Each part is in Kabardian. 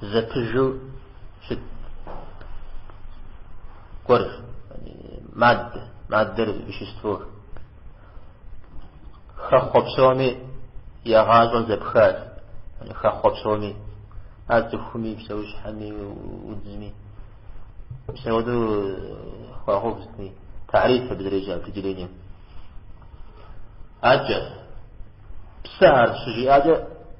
зэпыжу щыт гуэр маддэ маддэр веществор хэхъуэ псоми я гъащӏэ зэпхащ хэхъуэ псоми ар цӏыхуми псэущхьэми удзми псэуду хуагъэув псым и тариф абы зэреджэ определением аджэ псы ар щыжиӏакӏэ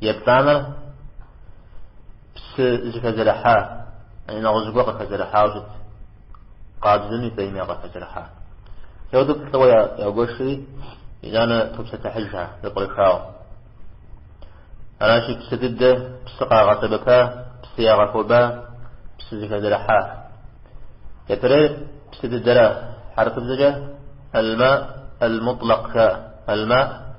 Еплӏанэр псы зыхэзэрыхьа, яни нэгъуэщӏ зыгуэр къыхэзэрыхьауэ щыт, къабзэми фӏейми къыхэзэрыхьа. Теуду плӏыуэ ягуэшри, итӏанэ топсэлъыхьыжхэ, зэпкърыхауэ. Аращи, псы дыдэ, псы къагъэсэбэпа, псы ягъэхуэба, псы зыхэзэрыхьа. Япэрейр псы дыдэра, хьэрыпыбзэкӏэ алма ал-мутлакъ жаӏэ. Алма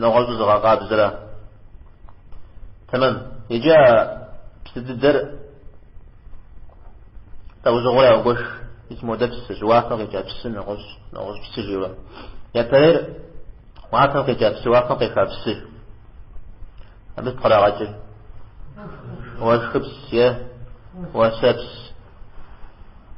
нэгъуэщӏу зыгъэкъабзэрэ. Тэмэм. Иджы а псы дыдэр лӏэужьыгъуэурэ ягуэш мис модэ псыщ, уафэм къикӏа псы нэгъуэщӏ, нэгъуэщӏ псы жиӏэурэ. Япэрейр уафэм къикӏа псы, уафэм къеха псы. Абы сыт кърагъэкӏыр? Уэшхыпс е уэсэпс.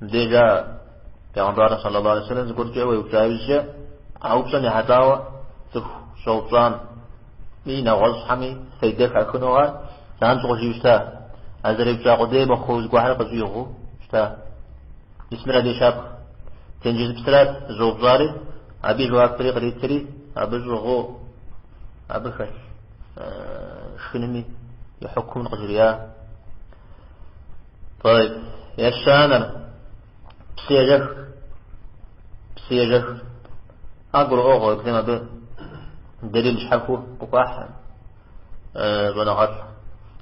Деж а Пегъымбар саллаллаху алейхи вэсэлэм зыгуэркӏэ уеупщӏа иужькӏэ, а упщӏэм ехьэлӏауэ цӏыху щӏэупщӏами нэгъуэщӏхэми фейдэ хахыну ар занщӏэу къыжиӏэу щыта, а зэреупщӏа къудей мыхъуу зыгуэхэр къыщӏигъуу щыта. Мис мыр абы и щапхъэ. Тенджызыпсырат зыщӏэупщӏари, абы и жэуапри къритри, абы щӏыгъуу абы хэлъ шхынми и хьукумыр къыжриӏа. طيب ещанэр псыежэх псыежэх ар гурыӏуэгъуэ езым абы дэлил щхьэхуэ къыхуахь щӏэныгъэлӏ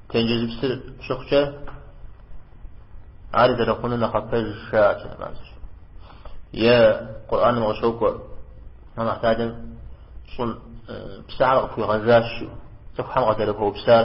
тенджызыпсыр щыхъукӏэ ар зэрыхъуну нэхъапэщ жаӏэт е къурӏаным къыщокӏуэ Аллахьталэм щӏым псыхьэр къыхуигъэжащ цӏыхухьэм къызэрыхуэупсар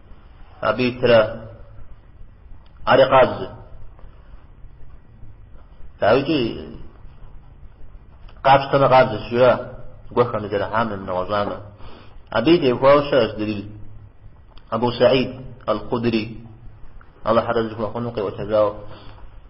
Абы итыр ари къабзэ. Дауикӏи къапщтэмэ къабзэщ жиӏэ зыгуэ хэмызэрыхьамэ, нэгъуэщӏамэ. Абы теухуауэ щыӏэщ дэлил. Абу Саид Ал-Худри Аллахь разы зыхуэхъуну къеӏуэтэжауэ.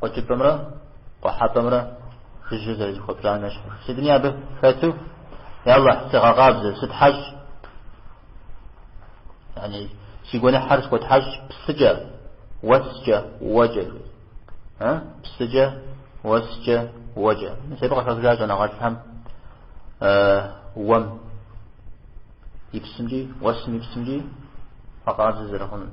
Къуэкӏыпӏэмрэ къухьэпӏэмрэ жыжьэ зэрызэхуэпщӏам ещхьу. Сытми абы хэту, Я Алыхь, сыгъэкъабзэ, сытхьэщӏ, яни, си гуэныхьыр схуэтхьэщӏ псыкӏэ, уэскӏэ, уэкӏэ, жи. А? Псыкӏэ, уэскӏэ, уэкӏэ. Абы къыхаха щӏэныгъэлӏхэм уэм и псымкӏи, уэсым и псымкӏи бгъэкъабзэ зэрыхъунур.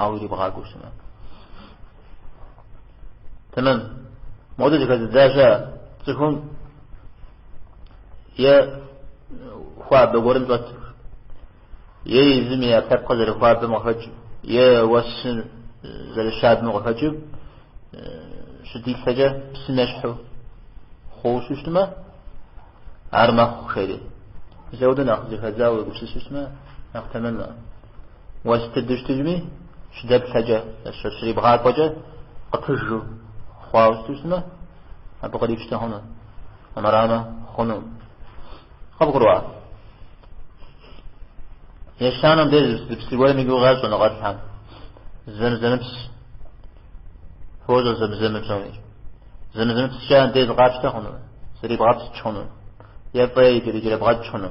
Ауэ ирибгъакӏуэу щымэ. Тэмэм. Модэ зэхэзыдза щыӏэщ цӏыхум е хуабэ гуэрым щӏэту, е езым и ӏэпкълъэпкъыр зэрыхуабэм къыхэкӏыу, е уэсыр зэрыщабэм къыхэкӏыу щыдилъэкӏэ псым ещхьу хъууэ щытмэ, ар мэхъу жери. Ауэдэу нэхъ зэхэдзауэ уегупсысу щытмэ, нэхъ тэмэмэ. Уэс дыдэу щытыжми, щыдэплъэкӏэ, щрибгъакӏуэкӏэ къыпыжу хъуауэ щыту щытмэ, абы кърипщтэ хъуну, армырамэ хъунукъым. Къыбгурыӏуа? Ещанэм деж зы псы гуэрым и гугъу ящӏ щӏэныгъэлӏхэм. Зэмзэмыпс. Фощӏэ Зэмзэм псоми. Зэмзэмыпскӏэ андез къапщтэ хъуну, зрибгъэпскӏ хъуну, е фӏей ирикӏэрыбгъэкӏ хъуну.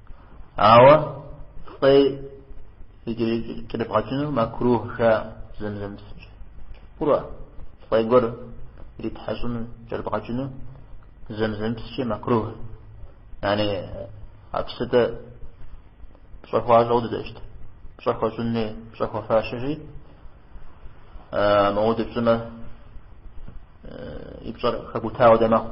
Ауэ фӏей ирикӏэрыбгъэкӏынур макрух жаӏэ Зэмзэмыпскӏэ. Къыбгурыӏуа? Фӏей гуэр иритхьэщӏыну кӏэрыбгъэкӏыну Зэмзэмыпскӏэ макрух. Яни а псытӏэ пщӏэ хуащӏу дыдэ щыт. Пщӏэ хуэщӏынни пщӏэ хуэфащэщи мыпхуэдэу пщӏымэ и пщӏэр хэбутауэ дэ мэхъу.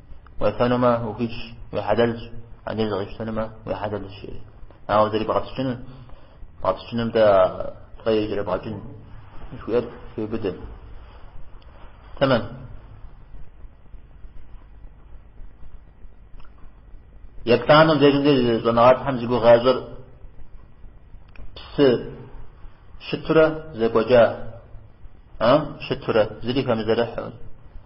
Уефэнумэ, ухуитщ, уи хьэлэлщ, андез къэпщтэнумэ, уи хьэлэлщ, жери. Ауэ зрибгъэпскӏынур, бгъэпскӏыным дэ фӏей ирикӏэрыбгъэкӏын жыхуиӏэр хеубыдэ. Тэмэм. Еплӏанэм дежым деж щӏэныгъэлӏхэм зи гугъу ящӏыр псы щытурэ зэкӏуэкӏа, а, щытурэ, зыри хэмызэрыхьу.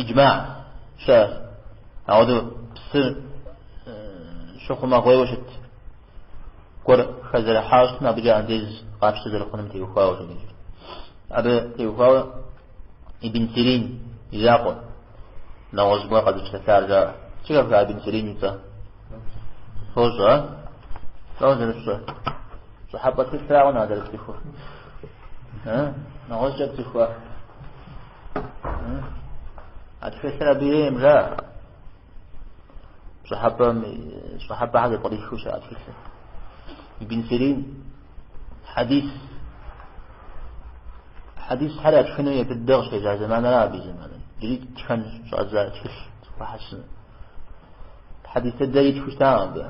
Иджма щыӏэщ ауэдэу псыр щыхъумэгъуейуэ щыт гуэр хэзэрыхьауэ щытмэ абыкӏэ андез къапщтэ зэрыхъунум теухуауэ щыдеж. Абы теухуауэ Ибн Сирин и закъуэ нэгъуэщӏ гуэр къэзыпсэлъар жаӏэ. Зэхэфха Ибн Сирин и цӏэ? Фощӏэ? Фӏэу зэрыщӏэ. Пщӏыхьэпӏэ цӏыхурауэ нэхъ зэрацӏыхур. Нэгъуэщӏкӏэ цӏыхуэ. А тхылъыр абы ейм жа пщӏыхьэпӏэм пщӏыхьэпӏэхэр зэпкърихыу щыӏэ тхылъыр. Ибн Сирин хьэдис хьэдисхэр ятхыну япэ дыдэ къыщежьа зэманэра абы зэманэ. Иджыри тхэн щӏадза тхылъ хьэсын. Хьэдис дыдэ итху щытам абы.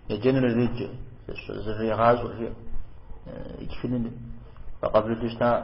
Еджэнур иреджэ, зрегъащӏэ жи. Итхыныр фӏэкъабылу щытам.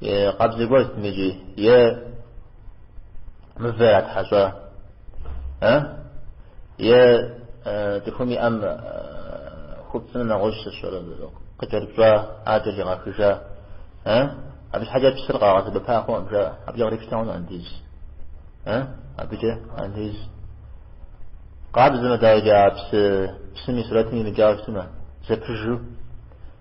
Е къабзэ гуэр сытми иджы, е мывэ ятхьэщӏа, а? Е цӏыхум и ӏэм хупцӏынэ нэгъуэщӏ сщӏэрэ, къыкӏэрыпщӏа а кӏэригъэхужа, а? Абы щхьэкӏэ псыр къагъэсэбэпа хъуӏэм, жаӏэ. Абыкӏэ кърипщтэ хъун андез, а? Абыкӏэ андез. Къабзэмэ, дауикӏа, псы, псым и сурэтым имыкӏауэ щытмэ, зэпыжу.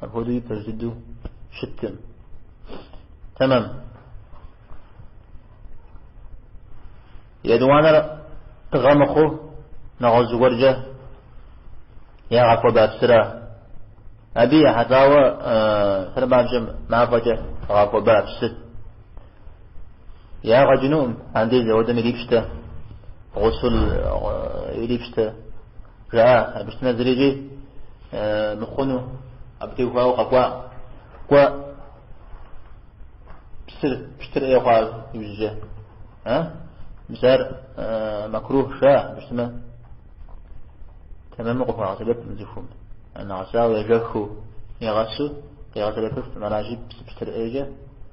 Апхуэдэу и пэж дыдэу щыткъым. Тэмэм. Етӏуанэр тыгъэ мыхъуу нэгъуэщӏ зыгуэркӏэ ягъэхуэба псыра? Абы ехьэлӏауэ сэрмабжьэм мафӏэкӏэ гъэхуэба псыр. Ягъэ кӏынукъым, андез ауэдэм ирипщтэ, гъусул ирипщтэ, Жаӏэ, абы щытмэ зырикӏи мыхъуну, абы теухуауэ къэкӏуа. Кӏуэ, псыр, пщтыр ӏей хъуа иужькӏэ. А? Мис ар макрухщ жа, абы щытмэ. Тэмэму къыхуэгъэсэбэпым цӏыхум. Нэгъэсауэ ежэхыу, егъэсу, къигъэсэбэпыфым аращи, псы пщтыр ӏейкӏэ.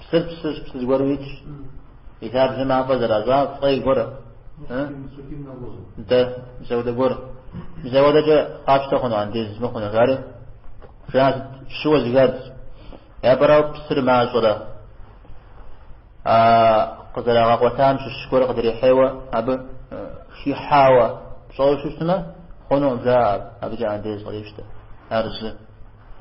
Псыр псыщ, псы зыгуэрым итщ. И лъабжьэ мафӏэ зэращӏа фӏей гуэр. Дэ, мис ауэдэ гуэр. Мис ауэдэкӏэ къащтэ хъуну андез мыхъуну, жари? Жа сыт щыуэ зэхадз. Япэрауэ псыр мащӏэрэ. А къызэрагъэкъуэтам щыщ гуэр къыдрихьейуэ абы хихьауэ пщӏэуэ щытмэ, хъуну, жа абыкӏэ андез кърипщтэ. Ар зы.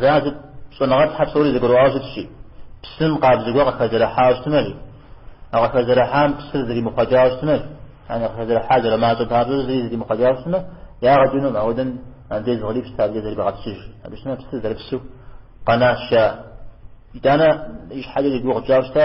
Зыхьэщыт щӏэныгъэлӏхэр псори зэгурыӏуауэ щытщи, псым къабзэ гуэр къыхэзэрыхьауэ щытмэри, а къыхэзэрыхьам псыр зримыхъуэкӏауэ щытмэ, яни къыхэзэрыхьар зэрымащӏэ папщӏэ зыри зримыхъуэкӏауэ щытмэ, ягъэ кӏынум, ауэдэм андез кърипщтэ абыкӏэ зрибгъэпскӏыж. Абы щытмэ псыр зэрыпсу къэнащ, жаӏэ. Итӏанэ ищхьэкӏэ зи гугъу тщӏащ дэ.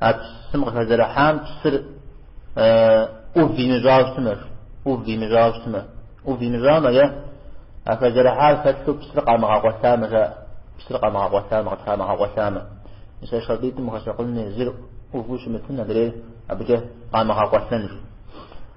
А псым къыхэзэрыхьам псыр ӏув имыщӏауэ щытмэ, ӏув имыщӏауэ щытмэ, ӏув имыщӏамэ е а хэзэрыхьар хэлъу псыр къамыгъэкъуэлъамэ жаӏэ, псыр къамыгъэкъуэлъамэ, къыдамыгъэкъуэлъамэ. Мис а шартӏитӏым ухущӏэкъун хуей зыр ӏуву щымытын адрейр абыкӏэ къамыгъэкъуэлъэн жи.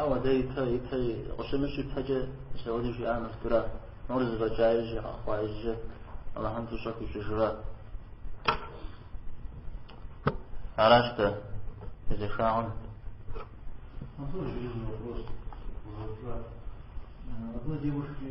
Ауэ дэ ипэ ипэ къыщымыщ ипэкӏэ Сауди жиӏа мыфтура? Нур зэфӏэкӏа ижьэ къэхъуа ижьэ Аллахьым фӏыщӏэ хуищӏыжыра? Аращ дэ езэшагъэм. Абы зиужкӏи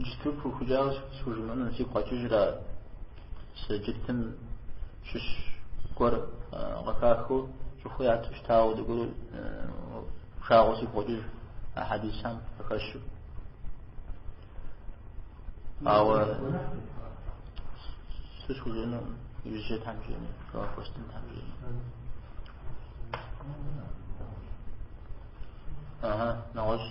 Джыту пыухыкӏауэ схужымыӏэну сигу къэкӏыжыр ар. Псы джытым щыщ гуэр къыхахэу цӏыхуи яту щытауэ дэгуэру пшагъуэ сигу къэкӏыж а хьэдисам къыхэщу. Ауэ схужыӏэну ижьэ там жени, хостын там жени. Ага, нэгъуэщӏ.